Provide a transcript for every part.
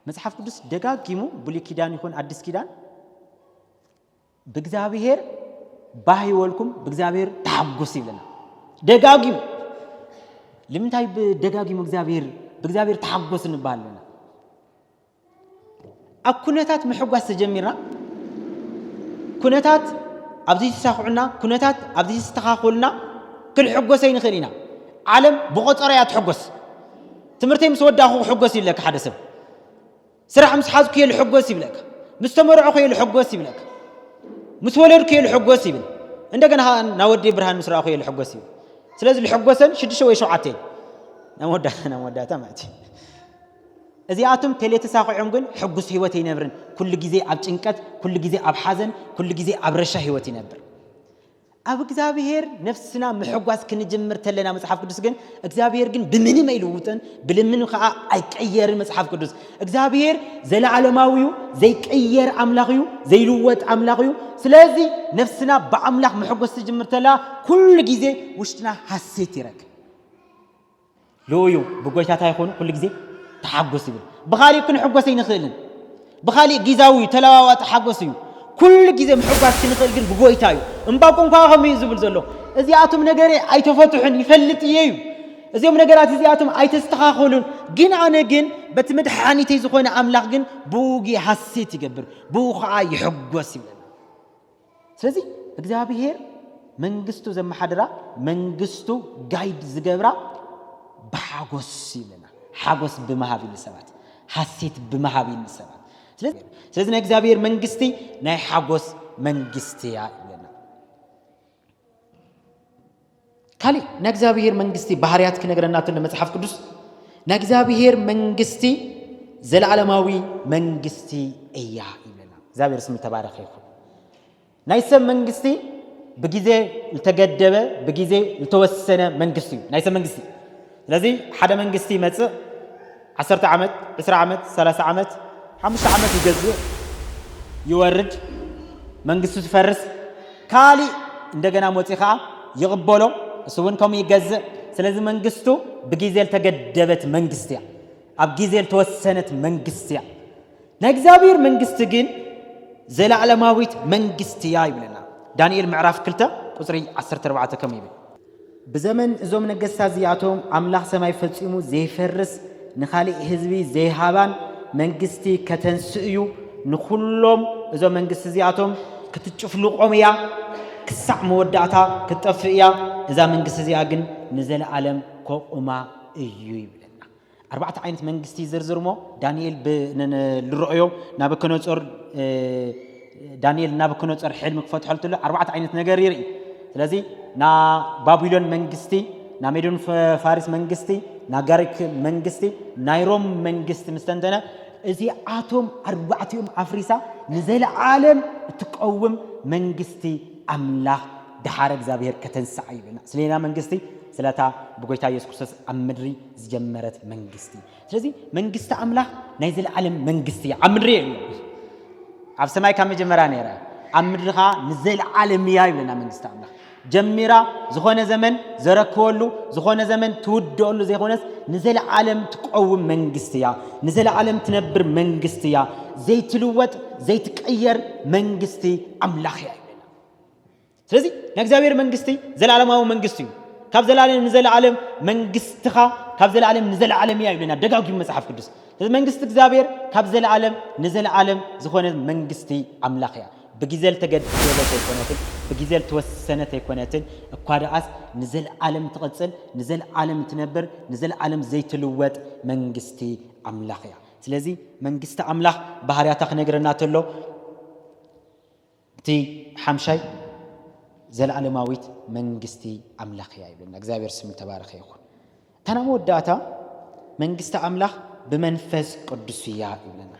መጽሓፍ ቅዱስ ደጋጊሙ ብሉይ ኪዳን ይኹን ኣዲስ ኪዳን ብእግዚኣብሔር ባህ ይወልኩም ብእግዚኣብሔር ተሓጉስ ይብለና ደጋጊሙ ልምንታይ ደጋጊሙ እግዚኣብሔር ብእግዚኣብሔር ተሓጎስ እንበሃለና ኣብ ኩነታት ምሕጓስ ተጀሚርና ኩነታት ኣብዚ ተሳክዑና ኩነታት ኣብዚ ተስተኻኽሉና ክንሕጎሰ ይንኽእል ኢና ዓለም ብቆፀሮ እያ ትሕጎስ ትምህርተይ ምስ ወዳኹ ክሕጎስ ይብለካ ሓደ ሰብ ስራሕ ምስ ሓዝኩ እየ ልሕጎስ ይብለካ ምስ ተመርዕኹ እየ ልሕጎስ ይብለካ ምስ ወለድኩ እየ ልሕጎስ ይብል እንደገና ናወዲ ብርሃን ምስ ረኣኹ እየ ልሕጎስ ይብል ስለዚ ልሕጎሰን ሽዱሽተ ወይ ሸውዓተ እየን ናብ መወዳእታ ማለት እዩ እዚኣቶም ተሌተሳኺዖም ግን ሕጉስ ህይወት ኣይነብርን ኩሉ ግዜ ኣብ ጭንቀት ኩሉ ግዜ ኣብ ሓዘን ኩሉ ግዜ ኣብ ረሻ ህይወት ይነብር ኣብ እግዚኣብሔር ነፍስና ምሕጓስ ክንጅምር ተለና መጽሓፍ ቅዱስ ግን እግዚኣብሔር ግን ብምንም ኣይልውጥን ብልምን ከዓ ኣይቀየርን መጽሓፍ ቅዱስ እግዚኣብሔር ዘለዓለማዊ እዩ ዘይቀየር ኣምላኽ እዩ ዘይልወጥ ኣምላኽ እዩ ስለዚ ነፍስና ብኣምላኽ ምሕጎስ ትጅምር ተላ ኩሉ ግዜ ውሽጥና ሃሴት ይረክብ ልኡዩ ብጎይታታ ይኹኑ ኩሉ ግዜ ተሓጎስ ይብል ብኻሊእ ክንሕጎስ ኣይንኽእልን ብኻሊእ ጊዛዊ እዩ ተለዋዋጢ ሓጎስ እዩ ኩሉ ግዜ ምሕጓስ ክንኽእል ግን ብጎይታ እዩ እምባቆም ከዓ ከምኡ እዩ ዝብል ዘሎ እዚኣቶም ነገረ ኣይተፈትሑን ይፈልጥ እየ እዩ እዚኦም ነገራት እዚኣቶም ኣይተስተኻኸሉን ግን ኣነ ግን በቲ መድሓኒተይ ዝኾነ ኣምላኽ ግን ብኡ ሃሴት ይገብር ብኡ ከዓ ይሕጎስ ይብለና ስለዚ እግዚኣብሄር መንግስቱ ዘመሓድራ መንግስቱ ጋይድ ዝገብራ ብሓጎስ ይብለና ሓጎስ ብምሃብ ኢሉ ሰባት ሓሴት ብምሃብ ኢሉ ሰባት ስለዚ ናይ እግዚኣብሔር መንግስቲ ናይ ሓጎስ መንግስቲ እያ ይብለና ካሊእ ናይ እግዚኣብሔር መንግስቲ ባህርያት ክነግረና ተሎ መጽሓፍ ቅዱስ ናይ እግዚኣብሔር መንግስቲ ዘለዓለማዊ መንግስቲ እያ ይብለና። እግዚኣብሔር ስም ተባረኸ ይኹን። ናይ ሰብ መንግስቲ ብግዜ ዝተገደበ ብግዜ ዝተወሰነ መንግስቲ እዩ ናይ ሰብ መንግስቲ። ስለዚ ሓደ መንግስቲ ይመጽእ ዓሰርተ ዓመት ዕስራ ዓመት ሰላሳ ዓመት ሓሙሽተ ዓመት ይገዝእ ይወርድ መንግስቱ ትፈርስ ካሊእ እንደገና ሞጺ ከኣ ይቕበሎ እሱ እውን ከምኡ ይገዝእ ስለዚ መንግስቱ ብጊዜ ልተገደበት መንግስቲ እያ ኣብ ጊዜ ልተወሰነት መንግስቲ እያ ናይ እግዚኣብሔር መንግስቲ ግን ዘላዕለማዊት መንግስቲ እያ ይብለና ዳንኤል ምዕራፍ 2 ቁፅሪ 14 ከም ይብል ብዘመን እዞም ነገስታት እዚኣቶም ኣምላኽ ሰማይ ፈጺሙ ዘይፈርስ ንኻሊእ ህዝቢ ዘይሃባን መንግስቲ ከተንስእ እዩ ንኹሎም እዞም መንግስቲ እዚኣቶም ክትጭፍልቆም እያ ክሳዕ መወዳእታ ክትጠፍእ እያ እዛ መንግስቲ እዚኣ ግን ንዘለኣለም ከቑማ እዩ ይብለና ኣርባዕተ ዓይነት መንግስቲ ይዝርዝር እሞ ዳንኤል ልረኦዮ ናበከነፆር ዳንኤል ናበከነፆር ሕልሚ ክፈትሖ ትሎ ኣርባዕተ ዓይነት ነገር ይርኢ ስለዚ ና ባቢሎን መንግስቲ ና ሜዶን ፋሪስ መንግስቲ ና ጋሪክ መንግስቲ ናይ ሮም መንግስቲ ምስተንተነ እዚ ኣቶም ኣርባዕቲኦም ኣፍሪሳ ንዘለዓለም እትቀውም መንግስቲ ኣምላኽ ድሓረ እግዚኣብሔር ከተንስዓ ይብልና ስለና መንግስቲ ስለታ ብጎይታ ኢየሱስ ክርስቶስ ኣብ ምድሪ ዝጀመረት መንግስቲ ስለዚ መንግስቲ ኣምላኽ ናይ ዘለዓለም መንግስቲ እያ ኣብ ምድሪ የለ ኣብ ሰማይ ካብ መጀመርያ ነይራ ኣብ ምድሪ ከዓ ንዘለዓለም እያ ይብለና መንግስቲ ኣምላኽ ጀሚራ ዝኾነ ዘመን ዘረክበሉ ዝኾነ ዘመን ትውደሉ ዘይኮነስ ንዘለዓለም ትቀውም መንግስቲ እያ ንዘለዓለም ትነብር መንግስቲ እያ ዘይትልወጥ ዘይትቀየር መንግስቲ ኣምላኽ እያ ይብለና ስለዚ ናይ እግዚኣብሔር መንግስቲ ዘለዓለማዊ መንግስቲ እዩ። ካብ ዘለዓለም ንዘለዓለም መንግስትኻ ካብ ዘለዓለም ንዘለዓለም እያ ይብለና ደጋጊሙ መጽሓፍ ቅዱስ። ስለዚ መንግስቲ እግዚኣብሔር ካብ ዘለዓለም ንዘለዓለም ዝኾነ መንግስቲ ኣምላኽ እያ። ብግዜ ዝተገደበት ኣይኮነትን፣ ብግዜ ዝተወሰነት ኣይኮነትን፣ እኳ ደኣስ ንዘለዓለም ትቕጽል፣ ንዘለዓለም ትነብር፣ ንዘለዓለም ዘይትልወጥ መንግስቲ ኣምላኽ እያ። ስለዚ መንግስቲ ኣምላኽ ባህርያታ ክነግረና ተሎ እቲ ሓምሻይ ዘለኣለማዊት መንግስቲ ኣምላኽ እያ ይብለና። እግዚኣብሔር ስሙ ተባረኸ ይኹን። እታ ናይ መወዳእታ መንግስቲ ኣምላኽ ብመንፈስ ቅዱስ እያ ይብለና።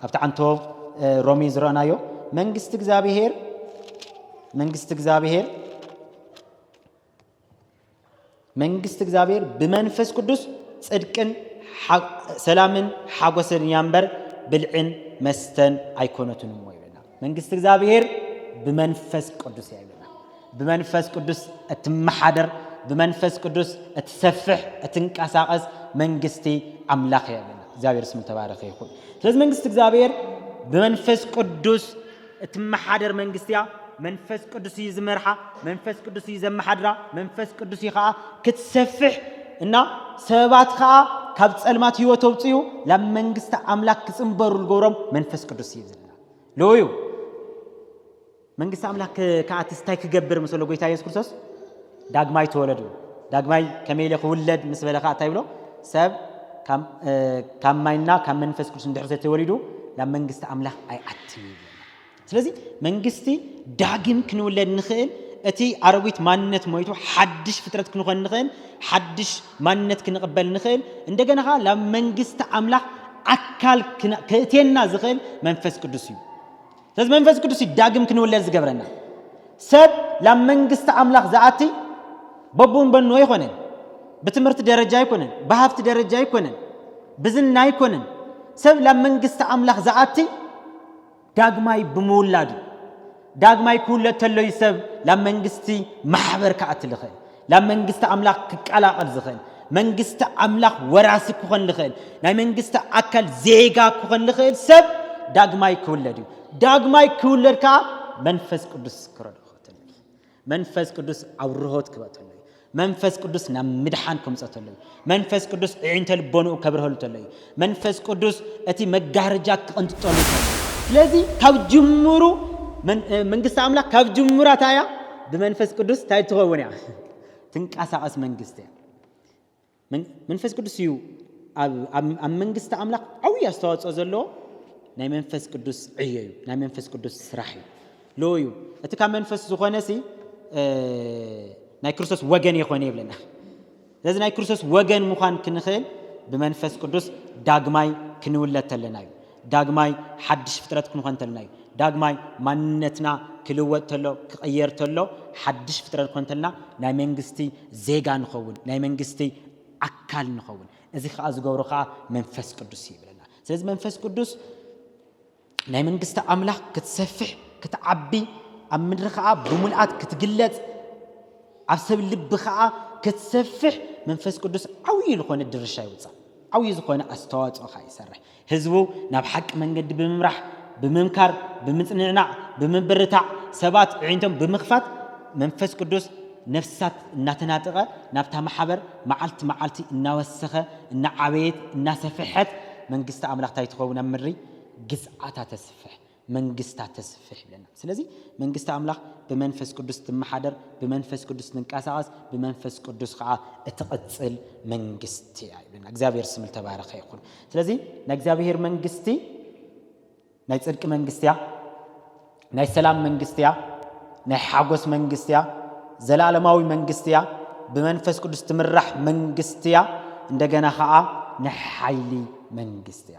ኣብቲ ዓንቶ ሮሜ ዝረኣናዮ መንግስቲ እግዚኣብሔር መንግስቲ እግዚኣብሔር መንግስቲ እግዚኣብሔር ብመንፈስ ቅዱስ ጽድቅን ሰላምን ሓጎስን እያ እምበር ብልዕን መስተን ኣይኮነትን እሞ ይብለና መንግስቲ እግዚኣብሔር ብመንፈስ ቅዱስ እያ ይብለና ብመንፈስ ቅዱስ እትመሓደር ብመንፈስ ቅዱስ እትሰፍሕ እትንቀሳቀስ መንግስቲ ኣምላኽ እያ ይብለና እግዚኣብሔር ስም ተባረኸ ይኹን ስለዚ መንግስቲ እግዚኣብሔር ብመንፈስ ቅዱስ እትመሓደር መንግስቲ እያ፣ መንፈስ ቅዱስ እዩ ዝመርሓ፣ መንፈስ ቅዱስ እዩ ዘመሓድራ፣ መንፈስ ቅዱስ እዩ ከዓ ክትሰፍሕ እና ሰባት ከዓ ካብ ፀልማት ህይወት ኣውፅኡ ናብ መንግስቲ ኣምላክ ክፅንበሩ ዝገብሮም መንፈስ ቅዱስ እዩ ዝብልና ሎዩ መንግስቲ ኣምላክ ከዓ ትስታይ ክገብር ምስሎ ጎይታ የሱስ ክርስቶስ ዳግማይ ተወለዱ። ዳግማይ ከመይ ኢለ ክውለድ ምስ በለ ከኣ እንታይ ይብሎ? ሰብ ካብ ማይና ካብ መንፈስ ቅዱስ እንድሕር ዘይተወሊዱ ናብ መንግስቲ ኣምላኽ ኣይኣትን እዩ። ስለዚ መንግስቲ ዳግም ክንውለድ ንኽእል እቲ ኣረዊት ማንነት ሞይቱ ሓድሽ ፍጥረት ክንኾን ንኽእል፣ ሓድሽ ማንነት ክንቕበል ንኽእል፣ እንደገና ከዓ ናብ መንግስቲ ኣምላኽ ኣካል ክእትየና ዝኽእል መንፈስ ቅዱስ እዩ። ስለዚ መንፈስ ቅዱስ እዩ ዳግም ክንውለድ ዝገብረና ሰብ ላብ መንግስቲ ኣምላኽ ዝኣቲ በቡን በኑ ኣይኮነን ብትምህርቲ ደረጃ ኣይኮነን ብሃፍቲ ደረጃ ኣይኮነን ብዝና ኣይኮነን ሰብ ላብ መንግስቲ ኣምላኽ ዝኣቲ ዳግማይ ብምውላድ እዩ ዳግማይ ክውለድ ተሎ እዩ ሰብ ላብ መንግስቲ ማሕበር ክኣቲ ዝኽእል ናብ መንግስቲ ኣምላኽ ክቀላቐል ዝኽእል፣ መንግስቲ ኣምላኽ ወራሲ ክኾን ዝኽእል፣ ናይ መንግስቲ ኣካል ዜጋ ክኾን ዝኽእል ሰብ ዳግማይ ክውለድ እዩ። ዳግማይ ክውለድ ከዓ መንፈስ ቅዱስ ክረድኦ ተሎ እዩ። መንፈስ ቅዱስ ኣብርሆት ክበተሎ እዩ። መንፈስ ቅዱስ ናብ ምድሓን ከምፀተሎ እዩ። መንፈስ ቅዱስ ዕዒንተ ልቦንኡ ከብርሀሉ ተሎ እዩ። መንፈስ ቅዱስ እቲ መጋረጃ ክቕንጥጠሉ ተሎ። ስለዚ ካብ ጅምሩ መንግስቲ ኣምላኽ ካብ ጅምራ እንታይ እያ? ብመንፈስ ቅዱስ እንታይ ትኸውን እያ? ትንቀሳቐስ መንግስቲ እያ። መንፈስ ቅዱስ እዩ ኣብ መንግስቲ ኣምላኽ ዓብዪ ኣስተዋፅኦ ዘለዎ ናይ መንፈስ ቅዱስ ዕዮ እዩ። ናይ መንፈስ ቅዱስ ስራሕ እዩ ሎ እዩ እቲ ካብ መንፈስ ዝኾነ ሲ ናይ ክርስቶስ ወገን የኾነ ይብለና ስለዚ ናይ ክርስቶስ ወገን ምዃን ክንኽእል ብመንፈስ ቅዱስ ዳግማይ ክንውለድ ተለና እዩ። ዳግማይ ሓድሽ ፍጥረት ክንኾን ተለና እዩ። ዳግማይ ማንነትና ክልወጥ ተሎ ክቕየር ተሎ ሓድሽ ፍጥረት ክንኮን ተለና ናይ መንግስቲ ዜጋ ንኸውን፣ ናይ መንግስቲ ኣካል ንኸውን። እዚ ከዓ ዝገብሮ ከዓ መንፈስ ቅዱስ እዩ ይብለና። ስለዚ መንፈስ ቅዱስ ናይ መንግስቲ ኣምላኽ ክትሰፍሕ ክትዓቢ ኣብ ምድሪ ከኣ ብምልኣት ክትግለጽ ኣብ ሰብ ልቢ ከኣ ክትሰፍሕ መንፈስ ቅዱስ ዓብዪ ዝኾነ ድርሻ ይውጻእ ዓብዪ ዝኾነ ኣስተዋጽኦ ከኣ ይሰርሕ ህዝቡ ናብ ሓቂ መንገዲ ብምምራሕ ብምምካር ብምጽንዕናዕ ብምብርታዕ ሰባት ዕዒንቶም ብምኽፋት መንፈስ ቅዱስ ነፍሳት እናተናጠቐ ናብታ ማሕበር መዓልቲ መዓልቲ እናወሰኸ እናዓበየት እናሰፈሐት መንግስቲ ኣምላኽ እንታይ ትኸውን ኣብ ምድሪ ግዝኣታ ተስፍሕ፣ መንግስታ ተስፍሕ ይብለና። ስለዚ መንግስቲ ኣምላኽ ብመንፈስ ቅዱስ ትመሓደር፣ ብመንፈስ ቅዱስ ትንቀሳቐስ፣ ብመንፈስ ቅዱስ ኸኣ እትቕጽል መንግስቲ እያ ይብለና። እግዚኣብሔር ስም ዝተባረኸ ይኹን። ስለዚ ናይ እግዚኣብሔር መንግስቲ ናይ ጽድቂ መንግስቲ እያ፣ ናይ ሰላም መንግስቲ እያ፣ ናይ ሓጎስ መንግስቲ እያ፣ ዘላለማዊ መንግስቲ እያ፣ ብመንፈስ ቅዱስ ትምራሕ መንግስቲ እያ፣ እንደገና ኸኣ ናይ ሓይሊ መንግስቲ እያ።